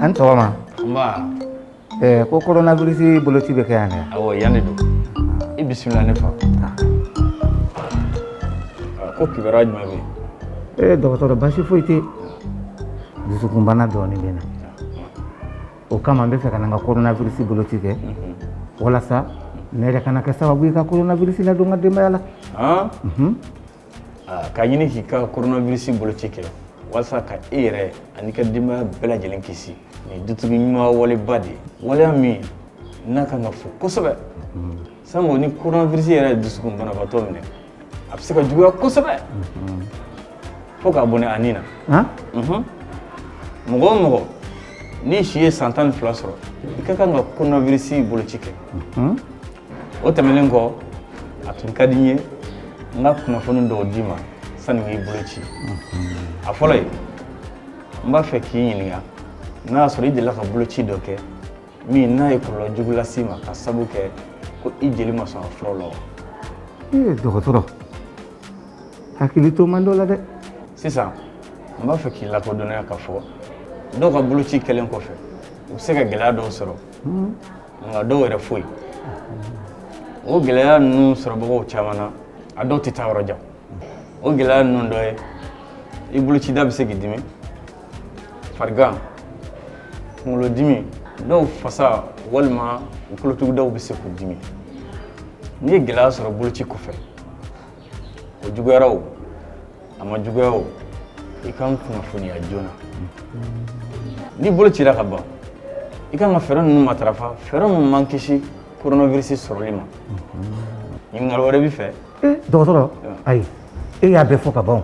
A ni sɔgɔma ko coronavirus boloci bɛ kɛ yan yan de don i bisimila ne fa ko kibaruya jumɛn bɛ yen dɔgɔtɔrɔ baasi foyi tɛ dusukunbana dɔɔnin bɛ n na o kama n b'a fɛ ka na n ka coronavirus boloci kɛ walasa ne yɛrɛ kana kɛ sababu ye ka coronavirus ladon n ka denbaya la K'a ɲini k'i ka coronavirus boloci kɛ walasa ka e yɛrɛ an'i ka denbaya bɛɛ lajɛlen kisi nin dutigi ɲuman waleba de ye waleya min n'a kan ka fo kosɛbɛ sango ni coronavirus yɛrɛ ye dusukun banabaatɔ minɛ a bɛ se ka juguya kosɛbɛ fo k'a bɔnɛ a ni na mɔgɔ o mɔgɔ n'i si ye san tan ni fila sɔrɔ i ka kan ka coronavirus boloci kɛ o tɛmɛnen kɔ a tun ka di n ye n ka kunnafoni dɔw d'i ma sani n k'i boloci a fɔlɔ ye n b'a fɛ k'i ɲininka n'a y'a sɔrɔ i delila ka boloci dɔ kɛ min n'a ye kɔlɔlɔ jugu las'i ma ka sabu kɛ ko i jeli ma sɔn a furaw la wa ee dɔgɔtɔrɔ hakili t'o man dɔ la dɛ sisan n b'a fɛ k'i lakodɔnniya k'a fɔ dɔw ka boloci kɛlen kɔfɛ u bɛ se ka gɛlɛya dɔw sɔrɔ nka dɔw yɛrɛ foyi o gɛlɛya ninnu sɔrɔbagaw caman na a dɔw tɛ taa yɔrɔ jan o gɛlɛya ninnu dɔ ye i bolocida bɛ se k'i dimi farigan kunkolodimi dɔw fasa walima u kolotugudaw bɛ se k'u dimi n'i ye gɛlɛya sɔrɔ boloci kɔfɛ o juguyara o a ma juguya o i ka n kunnafoniya joona n'i bolo cira ka ban i kan ka fɛɛrɛ ninnu matarafa fɛɛrɛ minnu b'an kisi coronavirus sɔrɔli ma ɲininkali wɛrɛ b'i fɛ dɔgɔtɔrɔ ayi e y'a bɛɛ fɔ ka ban o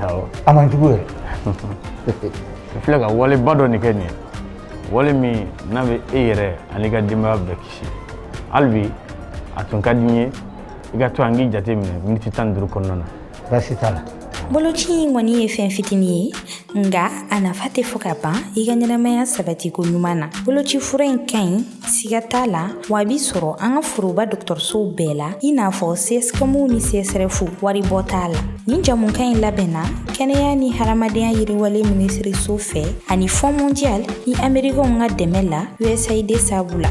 Awɔ. A man jugu yɛrɛ. I filɛ ka waleba dɔ nin kɛ nin ye, wale min n'a bɛ e yɛrɛ an'i ka denbaya bɛɛ kisi. Hali bi a tun ka di n ye i ka to yan n k'i jate minɛ miniti tan ni duuru kɔnɔna na. Baasi t'a la. Boloci in kɔni ye fɛn fitini ye nka a nafa tɛ fɔ ka ban i ka ɲɛnamaya sabatiko ɲuman na. Boloci fura in ka ɲi siga t'a la wa a bɛ sɔrɔ an ka foroba dɔgɔtɔrɔsow bɛɛ la i n'a fɔ cscom ni csref waribɔ t'a la nin jamukan in labɛnna kɛnɛya ni hadamadenya yiriwale minisiriso fɛ ani fonds mondial ni amerikɛnw ka dɛmɛ la usaid sabu la